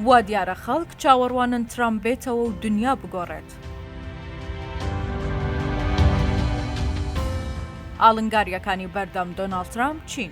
وا دیارە خەڵک چاوەڕوانن ترامپ بێتەوە و دنیا بگۆڕێت. ئاڵنگارییەکانی بەردەم دۆناڵد ترامپ چین؟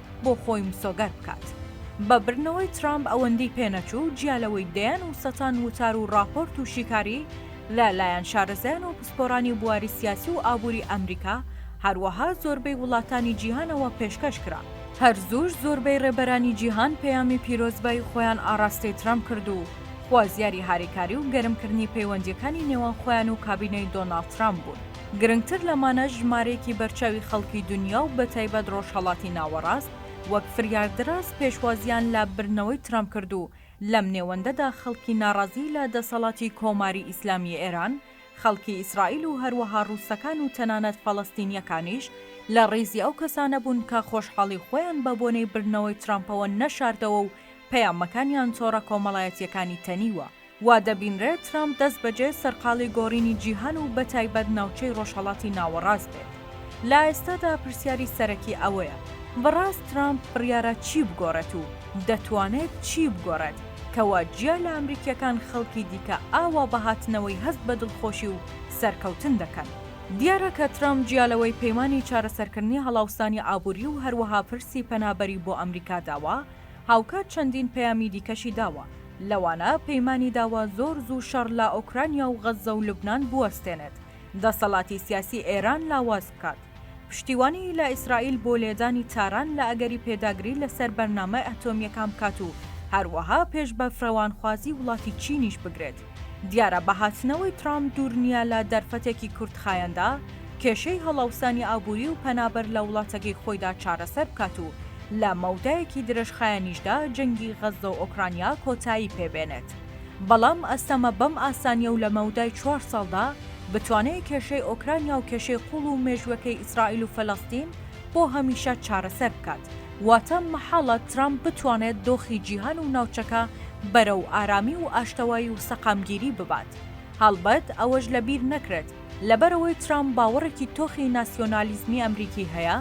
بۆ خۆی مسۆگەر بکات. بە بردنەوەی ترامپ ئەوەندی پێ نەچوو، جیا لەوەی دەیان و سەتان وتار و ڕاپۆرت و شیکاری لە لایەن شارەزایان و پسپۆرانی بواری سیاسی و ئابووری ئەمریکا، هەروەها زۆربەی وڵاتانی جیهانەوە پێشکەش کرا. هەر زووش زۆربەی ڕێبەرانی جیهان پەیامی پیرۆزبایی خۆیان ئاڕاستەی ترامپ کرد و خوازیاری هاریکاری و گەرمکردنی پەیوەندییەکانی نێوان خۆیان و کابینەی دۆناڵد ترامپ بوون. گرنگتر لەمانە ژمارەیەکی بەرچاوی خەڵکی دونیا و بەتایبەت ڕۆژهەڵاتی ناوەڕاست وەک فریاردراز پێشوازیان لە بردنەوەی ترەمپ کرد و لەم نێوەندەدا خەڵکی ناڕازی لە دەسەڵاتی کۆماری ئیسلامی ئێران، خەڵکی ئیسرائیل و هەروەها ڕووسەکان و تەنانەت فەڵەستینییەکانیش لە ڕیزی ئەو کەسانە بوون کە خۆشحاڵی خۆیان بە بۆنەی بردنەوەی ترەمپەوە نەشاردەوە و پەیامەکانیان تۆڕە کۆمەڵایەتییەکانی تەنیوە. وا دەبینرێت ترامپ دەستبەجێ سەرقاڵی گۆڕینی جیهان و بەتایبەت ناوچەی ڕۆژهەڵاتی ناوەڕاست بێت. لە ئێستادا پرسیاری سەرەکی ئەوەیە، بەڕاست ترامپ بڕیارە چی بگۆڕێت و دەتوانێت چی بگۆڕێت کەوا جیا لە ئەمریکییەکان خەڵکی دیکە ئاوا بە هاتنەوەی هەست بە دڵخۆشی و سەرکەوتن دەکەن؟ دیارە کە ترامپ جیا لەوەی پەیمانی چارەسەرکردنی هەڵاوسانی ئابووری و هەروەها پرسی پەنابەری بۆ ئەمریکا داوە، هاوکات چەندین پەیامی دیکەشی داوە، لەوانە پەیمانی داوە زۆر زوو شەڕ لە ئۆکرانیا و غەززە و لوبنان بوەستێنێت، دەسەڵاتی سیاسی ئێران لاواز بکات، پشتیوانیی لە ئیسرائیل بۆ لێدانی تاران لە ئەگەری پێداگری لەسەر بەرنامە ئەتۆمییەکان بکات و هەروەها پێش بە فرەوانخوازی وڵاتی چینیش بگرێت. دیارە بە هاتنەوەی ترامپ دوور نییە لە دەرفەتێکی کورتخایەندا کێشەی هەڵاوسانی ئابووری و پەنابەر لە وڵاتەکەی خۆیدا چارەسەر بکات و لە مەودایەکی درێژخایەنیشدا جەنگی غەززە و ئۆکرانیا کۆتایی پێ بێنێت. بەڵام ئەستەمە بەم ئاسانییە و لە مەودای چوار ساڵدا بتوانێ کێشەی ئۆکرانیا و کێشەی قووڵ و مێژووەکەی ئیسرائیل و فەلەستین بۆ هەمیشە چارەسەر بکات. واتە مەحاڵە ترامپ بتوانێت دۆخی جیهان و ناوچەکە بەرەو ئارامی و ئاشتەوایی و سەقامگیری ببات. هەڵبەت ئەوەش لە بیر نەکرێت، لەبەرئەوەی ترامپ باوەڕێکی تۆخی ناسیۆنالیزمی ئەمریکی هەیە،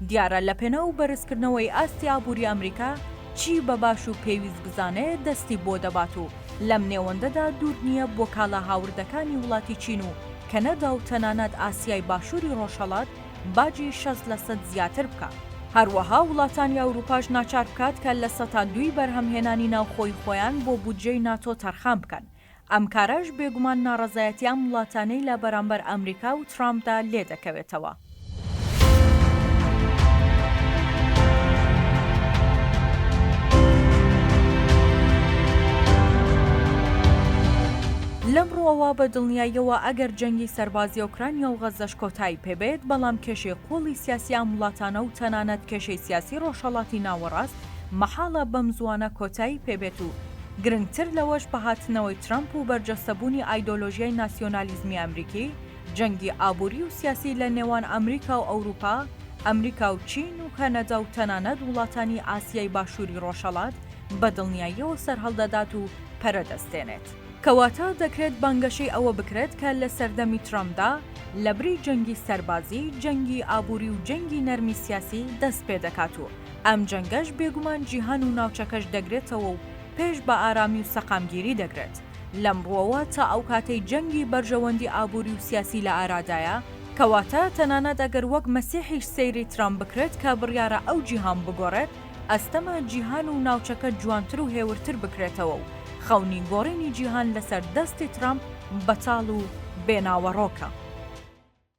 دیارە لەپێناو بەرزکردنەوەی ئاستی ئابووری ئەمریکا، چی بە باش و پێویست بزانێت دەستی بۆ دەبات و لەم نێوەندەدا دوور نییە بۆ کاڵا هاوردەکانی وڵاتی چین و کەنەدا و تەنانەت ئاسیای باشووری ڕۆژهەڵات باجی شەست لە سەد زیاتر بکات. هەروەها وڵاتانی ئەوروپاش ناچار بکات کە لە سەتا دووی بەرهەمهێنانی ناوخۆی خۆیان بۆ بودجەی ناتۆ تەرخان بکەن، ئەم کارەش بێگومان ناڕەزایەتی ئەم وڵاتانەی لە بەرامبەر ئەمریکا و ترامپدا لێ دەکەوێتەوە. لەم ڕووەوە بە دڵنیاییەوە ئەگەر جەنگی سەربازی ئۆکرانیا و غەززەش کۆتایی پێ بێت، بەڵام کێشەی قووڵی سیاسی ئەم وڵاتانە و تەنانەت کێشەی سیاسی ڕۆژهەڵاتی ناوەڕاست مەحاڵە بەم زووانە کۆتایی پێ بێت و گرنگتر لەوەش بە هاتنەوەی ترەمپ و بەرجەستەبوونی ئایدۆلۆژیای ناسیۆنالیزمی ئەمریکی، جەنگی ئابووری و سیاسی لە نێوان ئەمریکا و ئەوروپا، ئەمریکا و چین و کەنەدا و تەنانەت وڵاتانی ئاسیای باشووری ڕۆژهەڵات بە دڵنیاییەوە سەرهەڵدەدات و پەرە دەستێنێت. کەواتە دەکرێت بانگەشەی ئەوە بکرێت کە لە سەردەمی ترەمپدا لەبری جەنگی سەربازی، جەنگی ئابووری و جەنگی نەرمی سیاسی دەست پێدەکات و ئەم جەنگەش بێگومان جیهان و ناوچەکەش دەگرێتەوە و پێش بە ئارامی و سەقامگیری دەگرێت. لەم ڕووەوە تا ئەو کاتەی جەنگی بەرژەوەندی ئابووری و سیاسی لە ئارادایە، کەواتە تەنانەت ئەگەر وەک مەسیحیش سەیری ترامپ بکرێت کە بڕیارە ئەو جیهان بگۆڕێت، ئەستەمە جیهان و ناوچەکە جوانتر و هێورتر بکرێتەوە و خەونی گۆڕینی جیهان لەسەر دەستی ترامپ بەتاڵ و بێ ناوەڕۆکە.